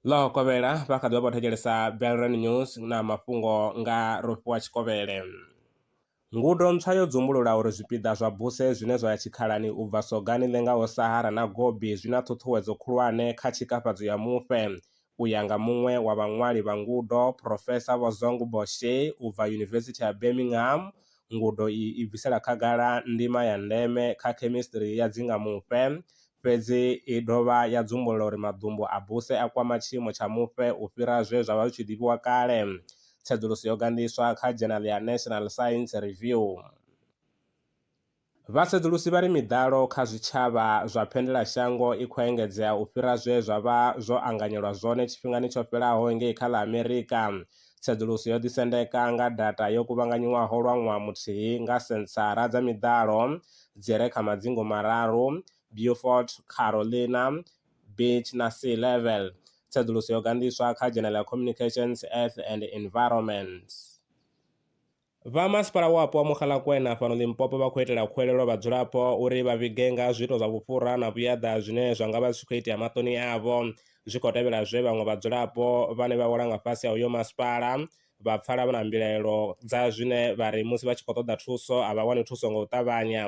ḽo kovhela vha kha ḓivha vho thetshelesa belran news na mafhungo nga rofhiwa tshikovhele ngudo ntswa yo dzumbulula uri zwipiḓa zwa buse zwine zwa ya tshikhalani u bva sogani ḽengaho sahara na gobi zwi na ṱhuṱhuwedzo khulwane kha tshikafhadzo ya mufhe U ya nga muṅwe wa vhaṅwali vha ngudo, Phurofesa Vho Zong Bo Hse u bva Yunivesithi ya Birmingham, ngudo iyi i bvisela khagala ndima ya ndeme kha khemisiṱiri ya dzingamufhe. Fhedzi i dovha ya dzumbulula uri maḓumbu a buse a kwama tshiimo tsha mufhe u fhira zwe zwa vha zwi tshi ḓivhiwa kale. Tsedzuluso yo gandiswa kha dzhenaḽa ya National Science Review. Vhasedzulusi vha ri miḓalo kha zwitshavha zwa phendelashango i khou engedzea u fhira zwe zwa vha zwo anganyelwa zwone tshifhingani tsho fhelaho ngei kha ḽa Amerika. Tsedzuluso yo ḓisendeka nga data yo kuvhanganyiwaho lwa ṅwaha muthihi nga Senthara dza Miḓalo dzi re kha madzingu mararu, Beaufort, Carolina Beach na Sea Level. Tsedzuluso yo ganḓiswa kha Journal ya Communications, Earth and Environment. Vha Masipala Wapo wa Mogalakwena fhano Limpopo vha khou itela khuwelelo vhadzulapo uri vha vhige nga ha zwiito zwa vhufhura na vhuyaḓa zwine zwa nga vha zwi tshi khou itea maṱoni avho zwi khou tevhela zwe vhaṅwe vhadzulapo vhane vha wela nga fhasi ha uyo masipala vha pfala vha na mbilaelo dza zwine vha ri musi vha tshi khou ṱoḓa thuso a vha wani thuso nga u ṱavhanya.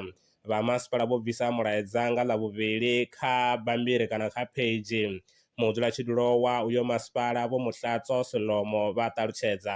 Vha masipala vho bvisa mulaedza nga Ḽavhuvhili kha bammbiri kana kha pheidzhi. Mudzulatshidulo wa uyo masipala Vho Mutlatso Selomo vha ṱalutshedza.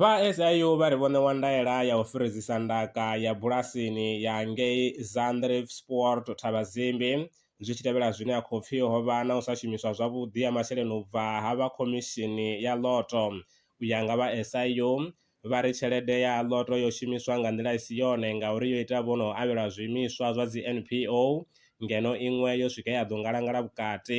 Vha SIU vha ri vho ṋewa ndaela ya u firidzisa ndaka ya bulasini ya ngei Zandrifspruit Thabazimbi zwi tshi tevhela zwine ha khou pfi ho vha na u sa shumiswa zwavhuḓi ha masheleni u bva ha vha khomishini ya ḽoto. U ya nga vha SIU, vha ri tshelede ya ḽoto yo shumiswa nga nḓila i si yone ngauri yo ita vho no avhelwa zwiimiswa zwa dzi NPO ngeno iṅwe yo swika ya ḓo ngalangala vhukati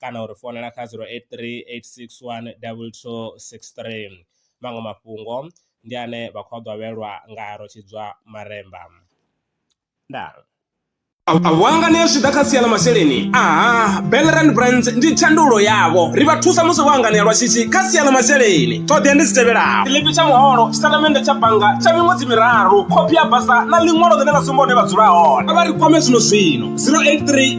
kana u ri founela kha 0838612263. Maṅwe mafhungo ndi ane vha khou a ḓwavhelwa nga Rotshidza Maremba. Ndaa. Wanga ni zwi ḓa kha sia ḽa masheleni aha Belrand Brands ndi thandululo yavho ri vha thusa musi vho anganea lwa shishi kha sia ḽa masheleni ṱhoḓea ndi dzi tevhelaho tshiḽipi tsha muholo tshitatamennde tsha bannga tsha miṅwedzi miraru khophi ya basa na ḽiṅwalo ḽine ḽa sumba hune vha dzula hone vha ri kwame zwino zwino 083